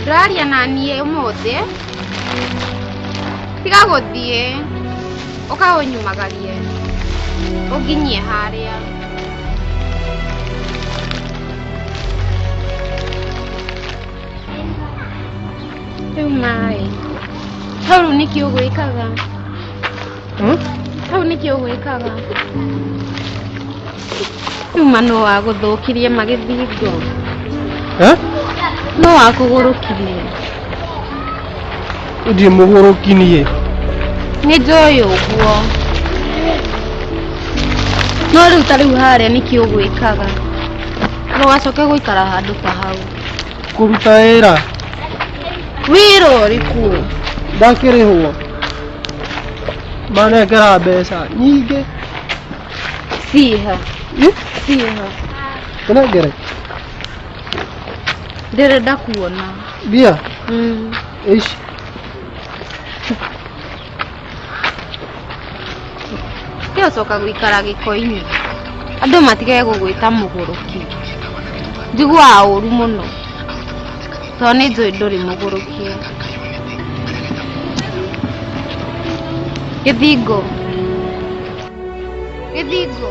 ndũraria na niĩ ũmũthĩ tiga gũthiĩ ũka ũnyumagarie ũnginyie harĩa rĩu maĩ hau rĩu nĩkĩ ũgwĩkaga hau nĩkĩ ũgwĩkaga rĩu ma no wagũthũkirie magĩthingo Eh? no wakũgũrũkirie Ndiĩ mũgũrũki niĩ. nĩ njũĩ ũguo no rĩu ta rĩu harĩa nĩkĩ ũgwĩkaga ndũgacoke gũikara handũ ta hau kũruta wĩra wĩra ũrĩkũ ndakĩrĩhwo manengera mbeca nyingĩ ciha Ih, ciha tũnengere ndĩrenda kuona mbia Mm. ici Tiocoka gũikara gĩko-inĩ. Andũ matige gũgwĩta mũgũrũki. Njiguaga ũru mũno tondũ nĩ njũĩ ndũrĩ mũgũrũki. Gĩthingo. Gĩthingo.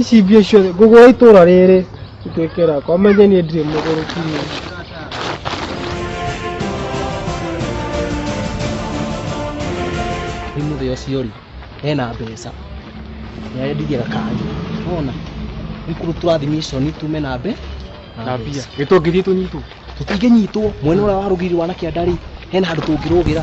ici mbia ciothe ngũgũ wa itũra rĩrĩ ituĩke rakwa menye niĩ ndirĩ mũgũrũki rĩu nĩ mũthĩ ũcio rĩ hena mbeca nĩarendirie gakanjũ wona ikuru tũrathimiconi tume na mbe na mbia nĩ tũngĩthiĩ tũnyitwo tũtingĩnyitwo mwena ũrĩa warũgiri wanakĩanda rĩ hena handũ tũngĩrũgĩra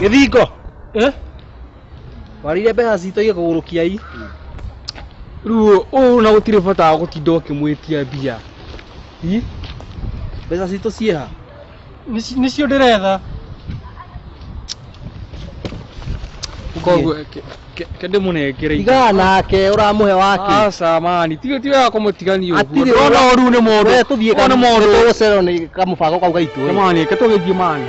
Gĩthingo. Eh? Warire mbeca citũ igĩkũgũrũkia i. Ruo ũũ na gũtirĩ bata wa gũtinda ũkĩmwĩtia mbia. I? Mbeca citũ ciĩ ha? Nis- Nisio ndĩretha koguo ke- ke- ke ndĩmũnengere indo. tigaa nake ũramũhe wake aca mani ti ti wega kũmũtigania ũguo Atirĩ ndona ũru nĩ mũndũ Wee tũthiĩ Ona mũndũ. tũgũcerwo nĩ kamũbango kau gaitũ Ke mani ke tũgĩthiĩ mani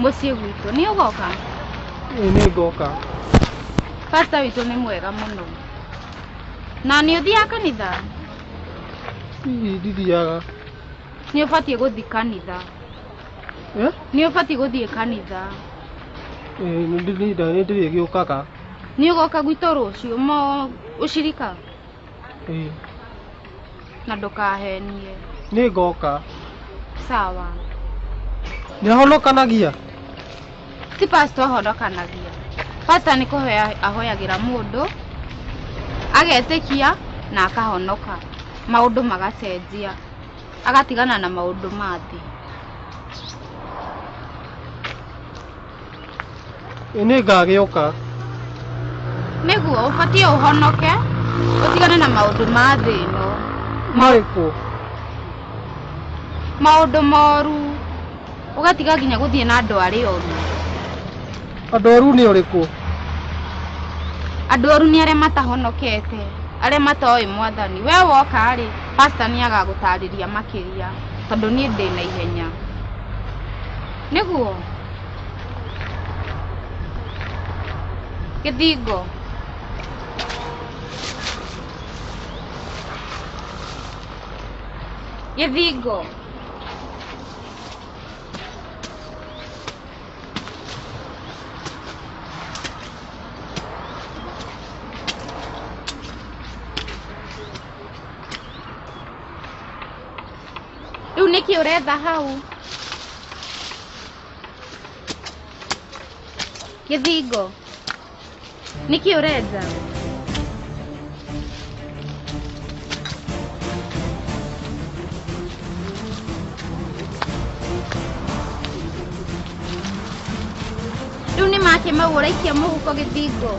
mũciĩ gwitũ nĩ ũgoka Ĩĩ nĩ ngoka pasta witũ nĩ mwega mũno na nĩ ũthiaga kanitha hihi ndithiaga nĩ ũbatiĩ gũthiĩ kanitha Eh? nĩ ũbatiĩ gũthiĩ kanitha Ĩĩ nĩ ndĩrĩte nĩ ndĩrĩ gĩũkaga nĩ ũgoka gwitũ rũciũ mo ũcirika Ĩĩ na ndũkahenie nĩ ngoka sawa nĩ ahonokanagia ti pastor ahonokanagia pastor nĩ kũhoya ahoyagĩra mũndũ agetĩkia na akahonoka maũndũ magacenjia agatigana na maũndũ ma thĩ Ĩ nĩ ngagĩũka. Nĩguo, ũbatiĩ ũhonoke, ũtigane na maũndũ ma thĩ ĩno. Marĩkũ? Maũndũ moru, ũgatiga nginya gũthiĩ na andũ arĩa oru. Andũ oru nĩ ũrĩkũ? Andũ oru nĩ arĩa matahonokete, arĩa matoĩ mwathani. We woka-rĩ, pastor nĩ agagũtarĩria makĩria, tondũ niĩ ndĩ na ihenya. nĩguo gĩthingo gĩthingo Rĩu nĩkĩ ũretha hau? Gĩthingo. Nĩkĩ ũrenja? rĩu nĩ make mau ũraikia mũhuko gĩthingo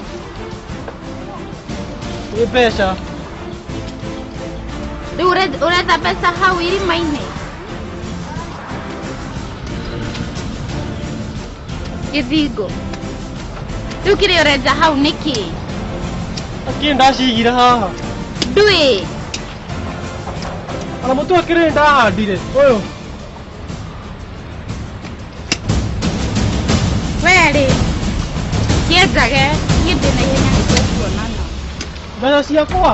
nĩ mbeca rĩu ũre- ũretha mbeca hau irima-inĩ gĩthingo rĩu kĩrĩa ũrenja hau nĩ kĩĩ akĩrĩ ndacigira haha ndwĩ ona mũtu akĩrĩ ndahandire ũyũ werĩ kĩenjage niĩ ndĩ na ihenya nĩ tũkuonana mbeca ciakwa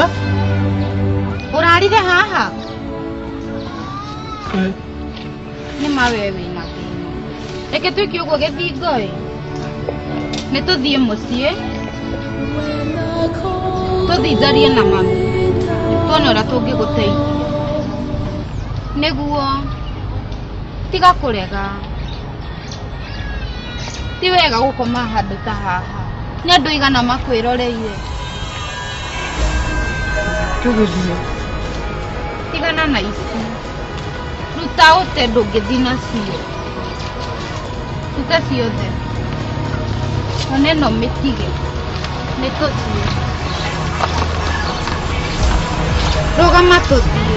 Eh? Ũrarire haha? Eh. Nĩ ma we wĩna thĩna. Reke twĩke ũguo gĩthingo ĩ. Nĩ tũthiĩ mũciĩ. Tũthiĩ njarie na mami. Tuone ũrĩa tũngĩgũteithia. Nĩguo tiga kũrega. Ti wega gũkoma handũ ta haha. Nĩ andũ aigana makwĩroreire. tũgĩthiĩ tigana na ici ruta ũte ndũngĩthi nacio ruta ciothe ona ĩno mĩtige nĩ tũthiĩ rũgama tũthiĩ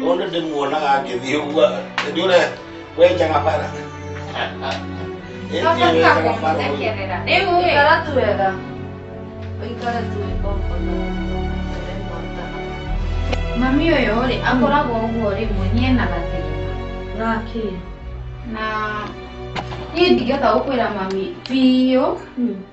no nä ndä muonaga ngä thiä å guo ndä å re wenjaga bara Ikara tu wega. Ikara tu wega ũkona. Mami ũyũ rĩ akoragwo ũguo rĩmwe niĩ na gathĩna Gaki. na niĩ ndingĩhota gũkwĩra mami biũ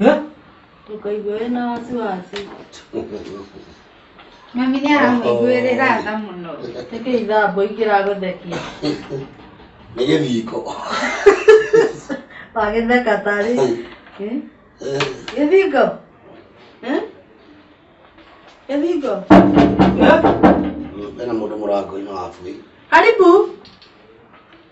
Eh? ndũkaigua wĩna wasiwasi Mami nĩ aramũiguĩrĩra tha mũno. ĩkĩ ithambo ingĩragũthekia nĩ gĩthiko wagĩtheka tarĩ Eh? Eh, gĩthingo Eh? gĩthingo Eh? hena mũndũ mũrango-inĩ wa bũi karibu